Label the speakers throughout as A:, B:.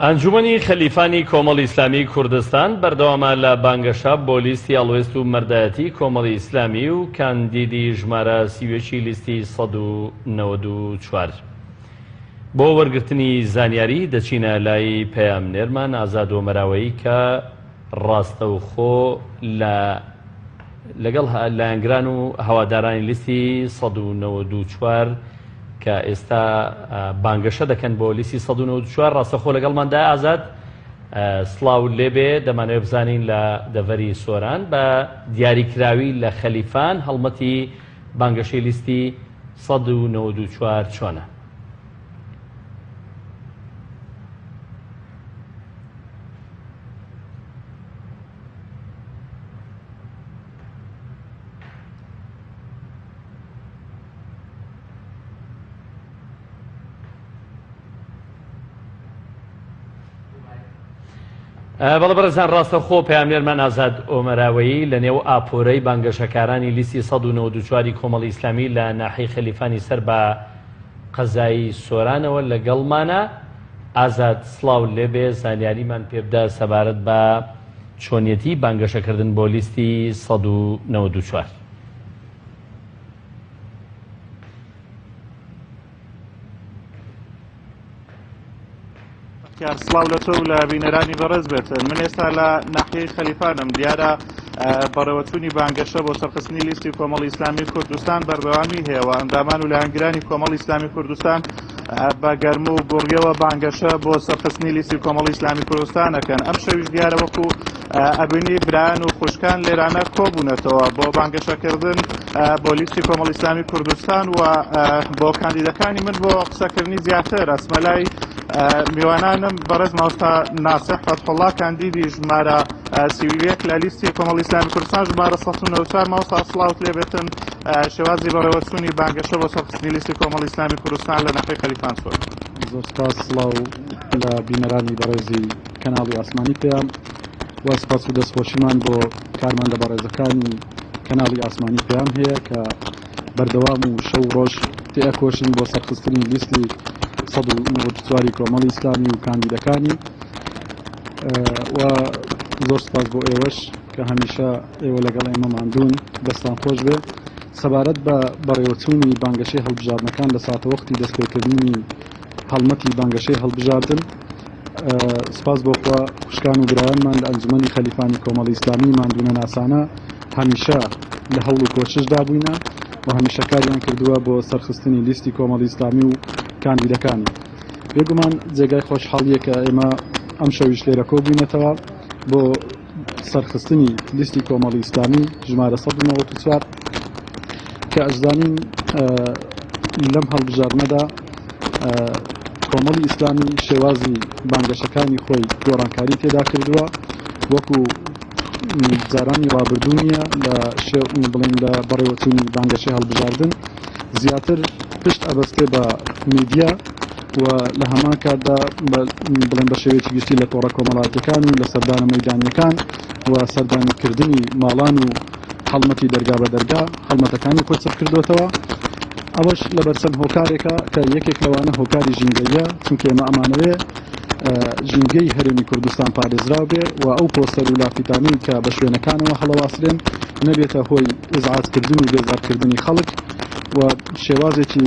A: ئەنجومەنی خەلیفانی کۆمەڵی ئیسلامیی کوردستان بەردەوامە لە بانگەشە بۆ لیستی هەڵوێست و مەردایەتیی کۆمەڵی ئیسلامی و کاندیدی ژمارە سی و یەک ی لیستی سەد و نەوەد و چوار. بۆ وەرگرتنی زانیاری دەچینە لای پەیامنێرمان ئازاد ئۆمەراوەیی کە ڕاستەوخۆ لە لەگەڵ لایەنگران و هەوادارانی لیستی سەد و نەوەد و چوار کە ئێستا بانگەشە دەکەن بۆ لیسی 1940 ڕاستەخۆ لەگەڵماندا ئازاد سلااو لێبێ دەمانەوە بزانین لە دەڤەری سۆران بە دیاریکراوی لە خەلیفان هەڵمەتی بانگەشەی لیستی 1940 چۆنە بەڵە بەرزان ڕاستە خۆ پامێرمان ئازاد ئۆمەراوەیی لە نێو ئاپۆرەی بانگەشەکارانی لیستی 1940 کۆمەڵی ئیسلامی لە ناحی خەلیفانی سەر بە قەزایی سۆرانەوە لەگەڵمانە ئازاد سلااو لێبێ زانیاریمان پێبدا سەبارەت بە چۆنیەتی بانگەشەکردن بۆ لیستی سەد و نەوەد و چوار.
B: بەختیار سڵاو لە تۆ و لە بینەرانی بەڕێز بێت من ئێستا لە ناحیەی خەلیفانم دیارە بەڕێوەچوونی بانگەشە بۆ سەرخستنی لیستی کۆمەڵی ئیسلامی کوردستان بەردەوامی هەیەەوە ئەندامان و لایەنگرانی کۆمەڵی ئیسلامی کوردستان بە گەرم و گوڕیەوە بانگەشە بۆ سەرخستنی لیستی کۆمەڵی ئیسلامی کوردستان ئەکەن ئەم شەویش دیارە وەکو ئەبینی برایان و خوشکان لێرانە کۆبوونەتەوە بۆ بانگەشەکردن بۆ لیستی کۆمەڵی ئیسلامی کوردستان و بۆ کاندیدەکانی من بۆ قسەکردنی زیاتر ئەسمەلای میوانانم بەڕێز ماوستا ناسە حەتحڵا کاندیدی ژمارە سی و یەک لە لیستی کۆمەڵی ئیسلامی کوردستان ژمارە سەد و نەوەد و چوار مامۆستا سڵاوت لێ بێتن شێوازی بەڕێوەچوونی بانگەشە بۆ سەرخستنی لیستی کۆمەڵی ئیسلامی کوردستان لە نەقەی خەلیفان سۆر زۆر سپاس
C: سڵاو لە بینەرانی بەڕێزی کەناڵی ئاسمانی پێیان و سپاس و دەستخۆشیمان بۆ کارمەندە بەڕێزەکانی کەناڵی ئاسمانی پێیان هەیە کە بەردەوام و شەو و ڕۆژ تێئەکۆشن بۆ سەرخستنی لیستی سەد و نەوەد و چواری کۆمەڵی ئیسلامی و کاندیدەکانی و زۆر سپاس بۆ ئێوەش کە هەمیشە ئێوە لەگەڵ ئێمە ماندوون دەستان خۆش بێ سەبارەت بە بەڕێوەچوونی بانگەشەی هەڵبژاردنەکان لە ساتەوەختی دەستپێکردنی هەڵمەتی بانگەشەی هەڵبژاردن سپاس بۆخوا خوشکان و برایانمان لە ئەنجومی خەلیفانی کۆمەڵی ئیسلامی مادونە ناسانە هەمیشە لە هەوڵ و کۆششدا بووینە و هەمیشە کاریان کردووە بۆ سەرخستنی لیستی کۆمەڵی ئیسلامی و کاندیدەکانی بێگومان جێگای خۆشحاڵیەکە ئێمە ئەم شەویش لێرە کۆبووینەتەوە بۆ سەرخستنی لیستی کۆمەڵی ئیسلامی ژمارە 1940 کە ئەزانین لەم هەڵبژاردنەدا کۆمەڵی ئیسلامی شێوازی بانگەشەکانی خۆی گۆڕانکاری تێدا کردووە وەکو جارانی ڕابردوو نییە لە شێومی بڵێن لە بەڕێوەچوونی بانگەشەی هەڵبژاردن زیاتر پشت ئەبەستێ بە میدیا و لە هەمان کاتدا بڵێن بە شێوەیەکی گشتی لە تۆڕە کۆمەڵاتیەکان و لە سەردانە مەدانیەکان و سەردانکردنی ماڵان و هەڵمەتی دەرگا بە دەرگا هەڵمەتەکانی خۆی چڕ کردوێتەوە ئەوەش لە بەرچەند هۆکارێکە کە یەکێک لەوانە هۆکاری ژینگەیە چونکە ئێمە ئەمانەوێ ژینگەی هەرێمی کوردستان پارێزراو بێ و ئەو پۆستەر و لافیتانی کە بە شوێنەکانەوە هەڵەواسرێن نەبێتە هۆی ئزعاتکردن و بێزارکردنی خەڵک و شێوازێکی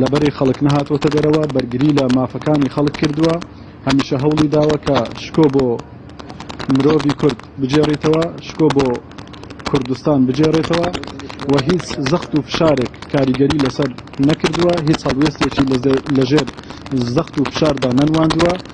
C: لەبەری خەڵک نەهاتووەتە دەرەوە بەرگری لە مافەکانی خەڵک کردووە هەمیشە هەوڵی داوە کە شکۆ بۆ مرۆڤی کورد بجێڕیتەوە شکۆ بۆ کوردستان بجێڕێتەوە و هیچ زەخت و فشارێک کاریگەری لەسەر نەکردووە هیچ هەڵوێستێکی لەژێر زەخت و فشاردا نەنواندووە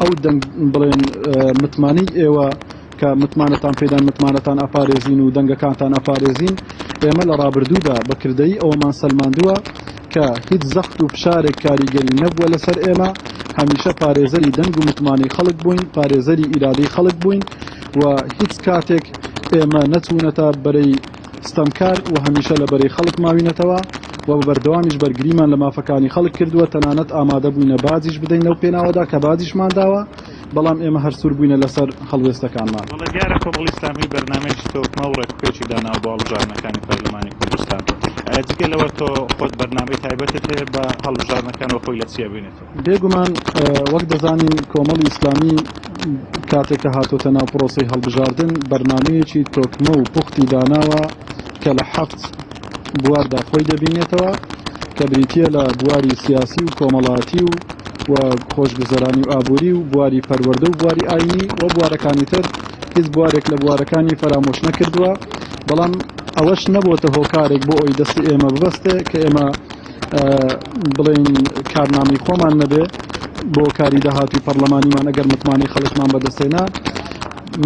C: ئەو دەنگ بڵێن متمانەی ئێوە کە متمانەتان پێدان متمانەتان ئەپارێزین و دەنگەکانتان ئەپارێزین ئێمە لە ڕابردوودا بە کردەی ئەوەمان سەلماندووە کە هیچ زەخت و فشارێک کاریگەری نەبووە لەسەر ئێمە هەمیشە پارێزەری دەنگ و متمانەی خەڵک بووین پارێزەری ئیرادەی خەڵک بووین و هیچ کاتێک ئێمە نەچوونەتە بەرەی ستەمکار و هەمیشە لە بەرەی خەڵک ماوینەتەوە و بە بەردەوامیش بەرگریمان لە مافەکانی خەڵک کردووە، تەنانەت ئامادەبووینە باجیش بدەین لەو پێناوەدا کە باجیشمان داوە، بەڵام ئێمە هەر سوور بووینە لەسەر هەڵوێستەکانمان. بەڵێ دیارە کۆمەڵی
B: ئیسلامی بەرنامەیەکی تۆکمە و ڕێکوپێکی داناوە بۆ هەڵبژاردنەکانی پەرلەمانی کوردستان، جگە لەوە تۆ خۆت بەرنامەی تایبەتت هەیە بە هەڵبژاردنەکان و خۆی لە چی ئەبینێتەوە؟ بێگومان
C: وەک دەزانین کۆمەڵی ئیسلامی کاتێک کە هاتۆتە ناو پرۆسەی هەڵبژاردن بەرنامەیەکی تۆکمە و پوختی داناوە کە لە حەفت بواردا خۆی دەبینێتەوە کە بریتە لە بواری سیاسی و کۆمەڵاتی و و خۆشگوزەرانی و ئابووری و بواری پەروەردە و بواری ئاینی و بوارەکانی تر هیچ بوارێک لە بوارەکانی فەرامۆش نەکردووە بەڵام ئەوەش نەبووتە هۆکارێک بۆ ئەوی دەستی ئێمە ببەستێ کە ئێمە بڵێین کارنامەی خۆمان نەبێ بۆ کاری داهاتوی پەرلەمانیمان ئەگەر متمانەی خەڵکمان بەدەستێنا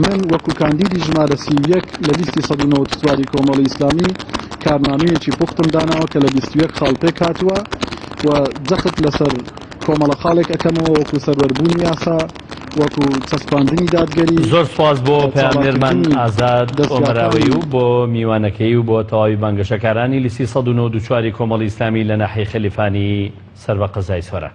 C: من وەکو کاندیدی ژمارە سی یەک لە لیستی سەد و نەوەد چواری کۆمەڵی ئیسلامی کارنامەیەکی پوختم داناوە کە لە بیست و یەک خاڵ پێک هاتووە و جەخت لەسەر کۆمەڵە خاڵێک ئەکەمەوە وەکو سەروەربوونی یاسا وەکو چەسپاندنی دادگەری. زۆر سوپاس بۆ
A: پەیامنێرمان ئازاد ئۆمەراوەیی و بۆ میوانەکەی و بۆ تەواوی بانگەشەکارانی لیستی سەد و نۆ و چواری کۆمەڵی ئیسلامی لە ناحیەی خەلیفانی سەر بە قەزای سۆران.